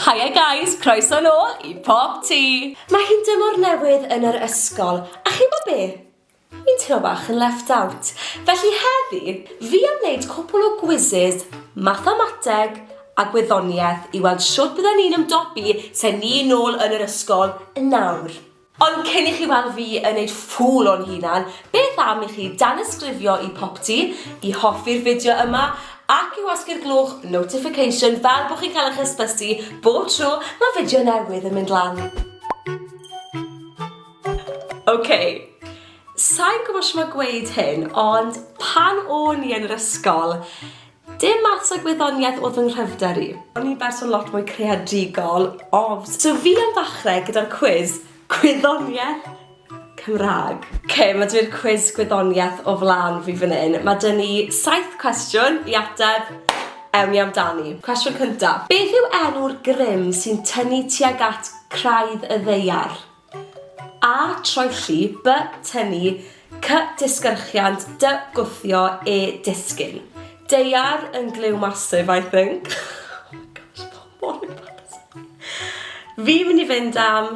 Hiya guys, croeso nôl i Pop Tea! Mae hi'n dymor newydd yn yr ysgol, a chi'n gwybod be? Fi'n teimlo bach yn left out. Felly heddi, fi am wneud cwpl o gwises mathemateg a gwyddoniaeth i weld shwt bydden ni'n ymdopi se ni nôl yn yr ysgol yn nawr. Ond cyn i chi weld fi yn neud ffŵl o'n hunan, beth am i chi danysgrifio i Popty, i hoffi'r fideo yma, ac i wasgu'r gloch notification fel bod chi'n cael eich hysbysu bob tro mae fideo newydd yn mynd lan. Ok, sai'n gwybod shwt mae gweud hyn, ond pan o'n i yn yr ysgol, Dim maths a gwyddoniaeth oedd fy nghryfder i. O'n i'n berson lot mwy creadigol, ofs. So fi am ddechrau gyda'r cwis gwyddoniaeth Cymraeg. Ok, ma' 'da fi'r cwis gwyddoniaeth o flan fi fan hyn. Ma' 'da ni saith cwestiwn i ateb, ewn ni amdani. Cwestiwn cynta, beth yw enw'r grym sy'n tynnu tuag at craidd y ddaear? A troelli, by tynnu, cy disgyrchiant, dy gwthio, e disgyn. Deiar yn glyw massive, I think. oh my gosh, mae mor embarrassing. Fi'n mynd i fynd am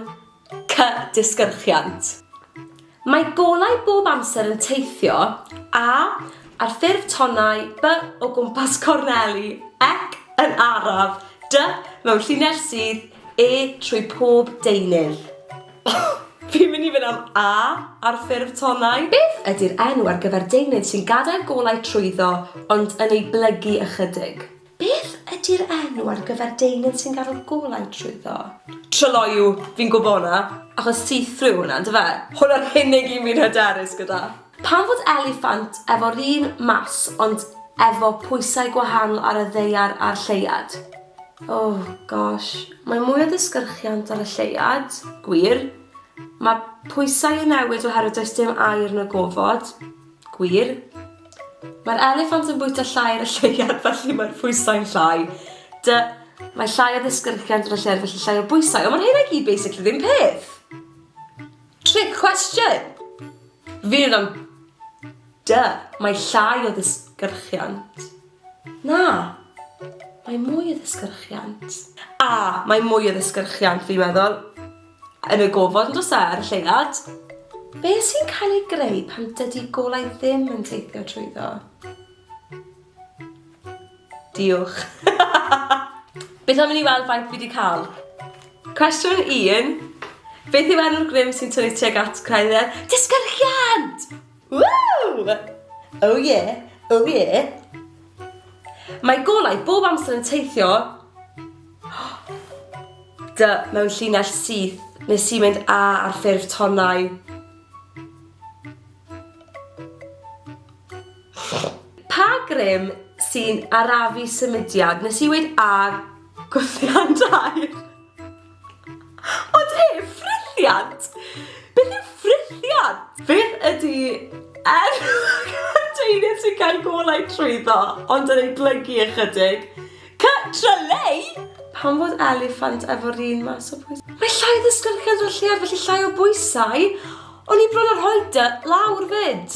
cy disgyrchiant. Mae golau bob amser yn teithio, a, ar ffurf tonnau, by o gwmpas corneli, ec yn araf, dy mewn llinell sydd, E trwy pob deunydd. Fi'n mynd i fynd am A ar ffurf tonnau. Beth ydy'r enw ar gyfer deunydd sy'n gadael golau trwyddo ond yn ei blygu ychydig? Beth ydy'r enw ar gyfer deunydd sy'n gadael golau trwyddo? Tryloyw, fi'n gwbo hwnna, achos see-through yw hwnna, yndyfe? Hwnna'r unig un fi'n hyderus gyda. Pam fod eliffant efo'r un mass ond efo pwysau gwahanol ar y ddaear a'r lleuad? Oh gosh. Mae mwy o ddisgyrchiant ar y lleuad, gwir. Mae pwysau yn newid oherwydd does dim aer na gofod, gwir. Mae'r eliffant yn bwyta llai ar y lleuad felly mae'r pwysau'n llai. Dy, mae llai o ddisgyrchiant yn y lleuad felly llai o bwysau. Ond mae'r rheina i gyd basically ddim peth. Trick question! Fydd am Duh, mae llai o ddisgyrchiant. Na, mae mwy o ddisgyrchiant. A, mae mwy o ddisgyrchiant fi'n meddwl. Yn y gofod yn does e, ar y lleuad? Be sy'n cael ei greu pan dydy golau ddim yn teithio trwyddo? Diolch. Beth am i ni weld faint fi wedi cael? Cwestiwn 1. Beth yw enw'r grym sy'n tynnu tuag at Creuddyn? Disgyrchiant! Woo! Oh yeah, oh yeah. Mae golau bob amser yn teithio dy mewn llinell syth nes i mynd a ar ffurf tonnau. Pa grym sy'n arafu symudiad? Nes i weud ar gwthian dair. Ond e, ffrithiant! Beth yw ffrithiant? Beth ydy enw cadeirydd sy'n cael golau trwyddo ond yn ei blygu ychydig? Cy tryleu! Pam fod eliffant efo'r un mas o bwysau? Mae llai o ddisglair yn cynrychiad felly llai o bwysau. O'n i bron â rhoi dy lawr 'fyd.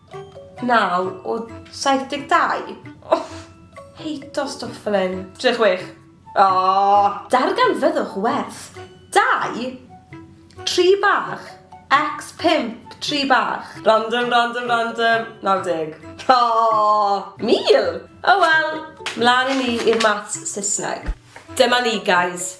Naw o saith deg dau? O! Heito stwff fel 'yn. Tri a chwech. O! Darganfyddwch werth dau tri bach ex pump tri bach. Random, random, random. Naw deg. O! Mil! O wel, mlan â ni i'r maths Saesneg. Dyma ni, guys.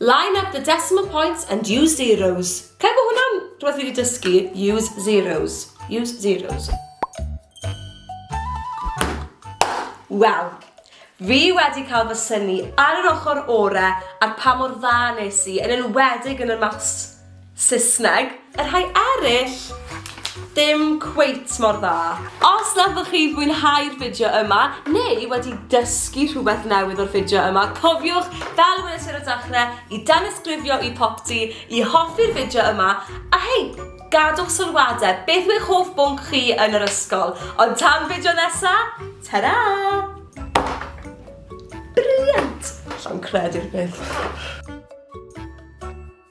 Line up the decimal points and use zeros. Cael bod hwnna'n rhywbeth fi wedi dysgu, use zeros. Use zeros. Wel, fi wedi cael fy syni ar yr ochr ore ar pa mor dda nes i, yn enwedig yn y maths Saesneg, y rhai eraill ddim cweit mor dda. Os na ydych chi'n fwynhau'r fideo yma, neu wedi dysgu rhywbeth newydd o'r fideo yma, cofiwch, fel y weles i ar y dechrau, i danysgrifio i Popty, i hoffi'r fideo yma, a hei, gadwch sylwadau, beth yw eich hoff bwnc chi yn yr ysgol? Ond tan fideo nesa, ta-ra! Brilliant! Allan credu'r peth.